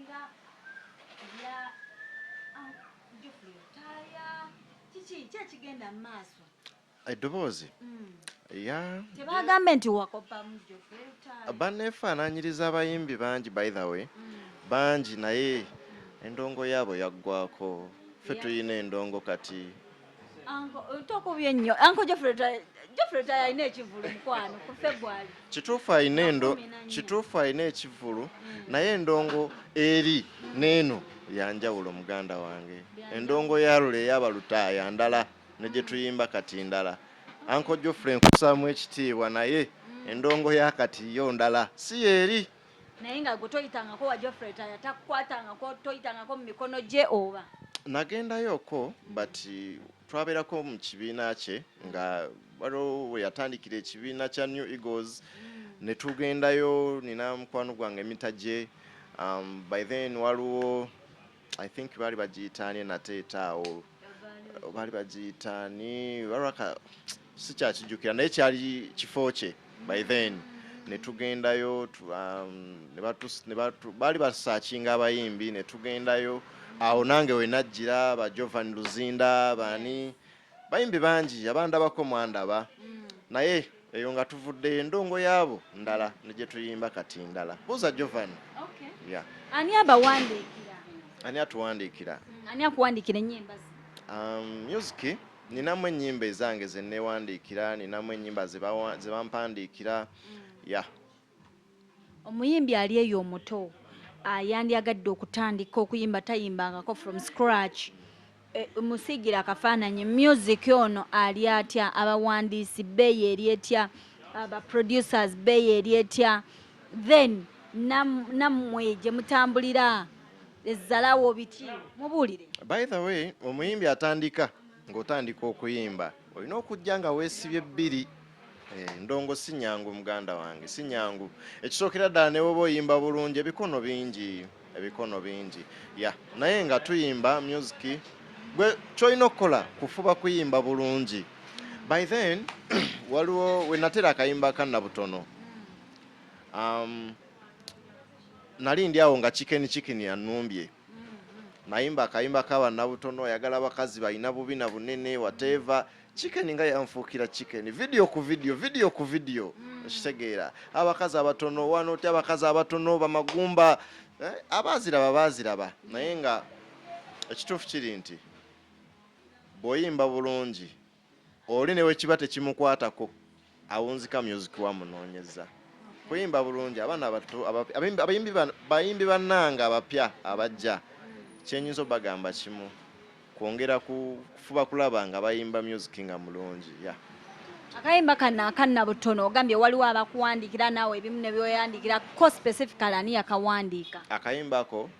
Nga ebya Aunt Geoffrey Lutaaya. Kiki? Ki ekigenda mu maaso? Eddoboozi? Mm. Ya. Tebagambe nti wakoppamu Geoffrey Lutaaya. Banneefaanaanyiriza abayimbi bangi by the way. Mm. Bangi naye endongo yaabo yaggwako. Ffe tulina endongo kati. kituufu alina endo kituufu alina ekivvulu mm. naye endongo eri neeno yanjawulo muganda wange endongo yalula eyabalutaaya ndala ne gye tuyimba kati ndala anko jofre nkusaamu ekitiibwa naye mm. endongo yakati yo ndala si yeeri naye nga gwe toyitangako wa Geoffrey Taya takukwatangako toyitangako mu mikono gye oba nagendayoko but twabeerako mu kibiina kye nga waliwo we yatandikira ekibiina kya new eagles mm. ne tugendayo nina mukwano gwange emita gye um, by then waliwo I think baali bagiyita ani nate etaawo baali bagiyita ani baraka sikyakijjukira naye kyali kifo kye by then ne tugendayo um, baali basakinga abayimbi ne tugendayo awo nange wenajjira ba jovan luzinda baani Bayimbi bangi abandabako mwandaba mm. naye eyo nga tuvuddeyo endongo yaabo ndala negyetuyimba kati ndala buuza jovan ani abawandiikira ani atuwandiikira mm, ani akuwandiikira enyimba um, music ninamu enyimba ezange zenewandiikira ninamu enyimba zebampandiikira mm. ya Omuyimbi ali eyo omuto yandyagadde okutandika okuyimba tayimbangako from scratch eh, musiigira akafaananyi music ono ali atya abawandiisi beeyi eri etya abaproducers beeyi eri etya then nammwe gye mutambulira ezzalawo biki mubuulire by the way omuyimbi atandika ng'otandika okuyimba olina okujja nga weesibye bbiri Eh, ndongo si nyangu muganda wange si nyangu ekisookera ddala ne woba oyimba bulungi ebikono bingi ebikono bingi ya naye nga tuyimba music gwe kyolina okukola kufuba kuyimba bulungi by then waliwo wenatera akayimba kanna butono um, nali ndi awo nga chicken chicken anumbye nayimba akayimba ka bannabutono oyagala abakazi balina bubi na bunene wateeva chicken nga yanfuukira chicken video ku video video ku video mm. okitegeera abakazi abatono wano ti abakazi abatono bamagumba eh, abaaziraba baaziraba naye nga ekituufu kiri nti bw'oyimba bulungi Oli newekiba tekimukwatako awunzika music wa munonyeza kuyimba bulungi abana abato abayimbi bayimbi bananga abapya abajja kyenyinza obagamba kimu kwongera kufuba kulaba nga bayimba music nga mulungi ya akayimba kano akanna butono ogambye waliwo abakuwandiikira naawe ebimu nebyoyandikira ko specifically ani yakawandiika akayimba ko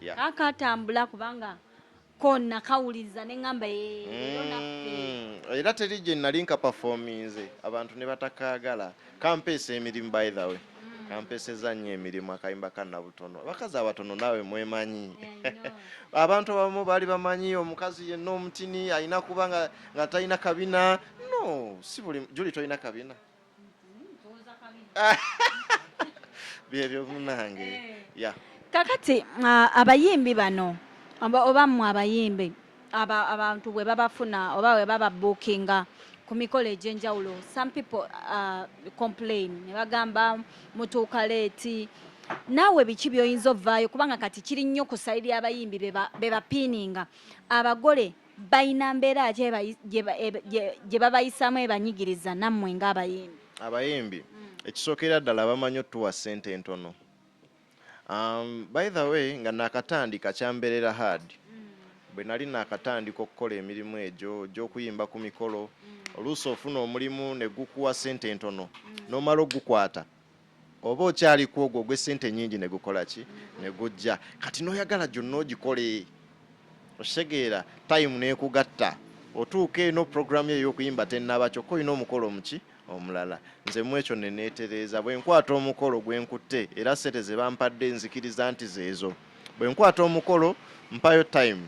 yeah. akatambula kubanga kona kawuliza nengamba mm, era teri gye nali nkapafominze abantu ne batakaagala kampeesa emirimu by the way mm. kampeseza nnyo emirimu akayimba kanabutono abakazi abatono naawe mwemanyi abantu abamu baali bamanyi omukazi yenna omutini alina kuba nga talina kabina no si buli juli tolina kabina byebyo munange eh. ya kakati ah, abayimbi bano oba mwe abayimbi abantu bwe babafuna oba bwe baba bookinga ku mikolo egy'enjawulo some people uh, complain ne bagamba mutuuka leeti naawe biki by'oyinza ovaayo kubanga kati kiri nnyo ku sayidi y'abayimbi be bapiininga abagole balina mbeera ki gye babayisaamu ebanyigiriza nammwe ng'abayimbi abayimbi hmm. ekisookera ddala bamanyi otuwa ssente entono um, by the way nga nakatandika kyambeerera hard hmm. bwe nali nakatandika okukola emirimu egyo gy'okuyimba ku mikolo hmm. oluusi ofuna omulimu ne gukuwa ssente entono n'omala ogukwata oba okyali ku ogwo ogw'essente ennyingi ne gukola ki ne gujja kati n'oyagala gyonna ogikole okitegeera time n'ekugatta otuuka eno programu eyo okuyimba tennaba kyokka olina omukolo omuki omulala nze mu ekyo ne neetereeza bwe nkwata omukolo gwe nkutte era ssente ze bampadde nzikiriza nti zeezo bwe nkwata omukolo mpayo time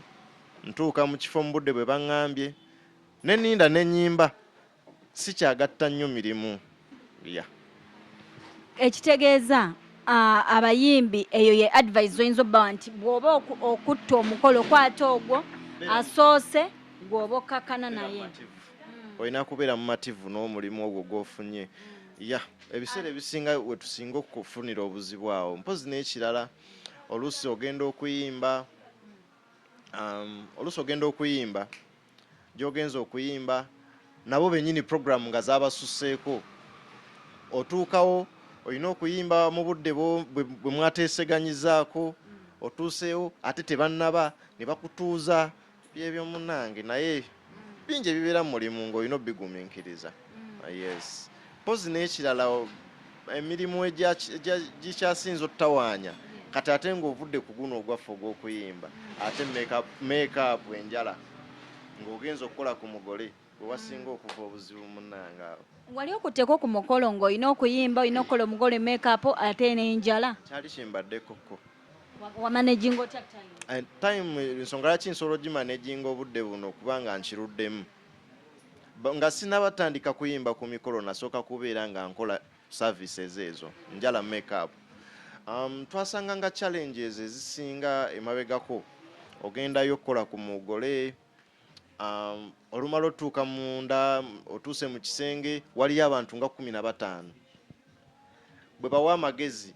ntuuka mu kifo mu budde bwe baŋŋambye ne ninda ne nnyimba Sikyagatta nnyo mirimu ya. Ekitegeeza abayimbi eyo ye advice zoyinza obbawa nti bw'oba okutta omukolo kwata ogwo asoose gw'oba okkakkana naye hmm. olina kubeera mumativu n'omulimu ogwo gw'ofunye hmm. ya ebiseera ebisinga wetusinga okufunira obuzibu awo mpozi n'ekirala oluusi ogenda okuyimba hmm. um, oluusi ogenda okuyimba gy'ogenze okuyimba nabo bennyini pulogulaamu nga zaabasusseeko otuukawo olina okuyimba mu budde bwe mwateeseganyizaako otuuseewo ate tebannaba ne bakutuuza byebyo munange naye bingi ebibeera mu mulimu ng'olina obigumiikiriza yes mpozi n'ekirala emirimu gikyasinza otutawaanya kati ate ng'ovudde ku guno ogwaffe ogw'okuyimba ate makeup enjala ng'ogenza okukola ku mugole gwe wasinga okuva obuzibu munange awo wali okutteko ku mukolo ng'olina okuyimba olina okukola omugole makeup ate n'enjala kyali kimbaddekoko wamanaginga otya time time nsonga laki nsobola ogimanajinga obudde buno kubanga nkiruddemu nga sinaba tandika kuyimba ku mikolo nasooka kubeera nga nkola services ezo njala make up um, twasanga nga challenges ezisinga emabegako ogendayo okukola ku mugole um, olumala otuuka munda otuuse mu kisenge waliyo abantu nga kumi na bataano bwe bawa amagezi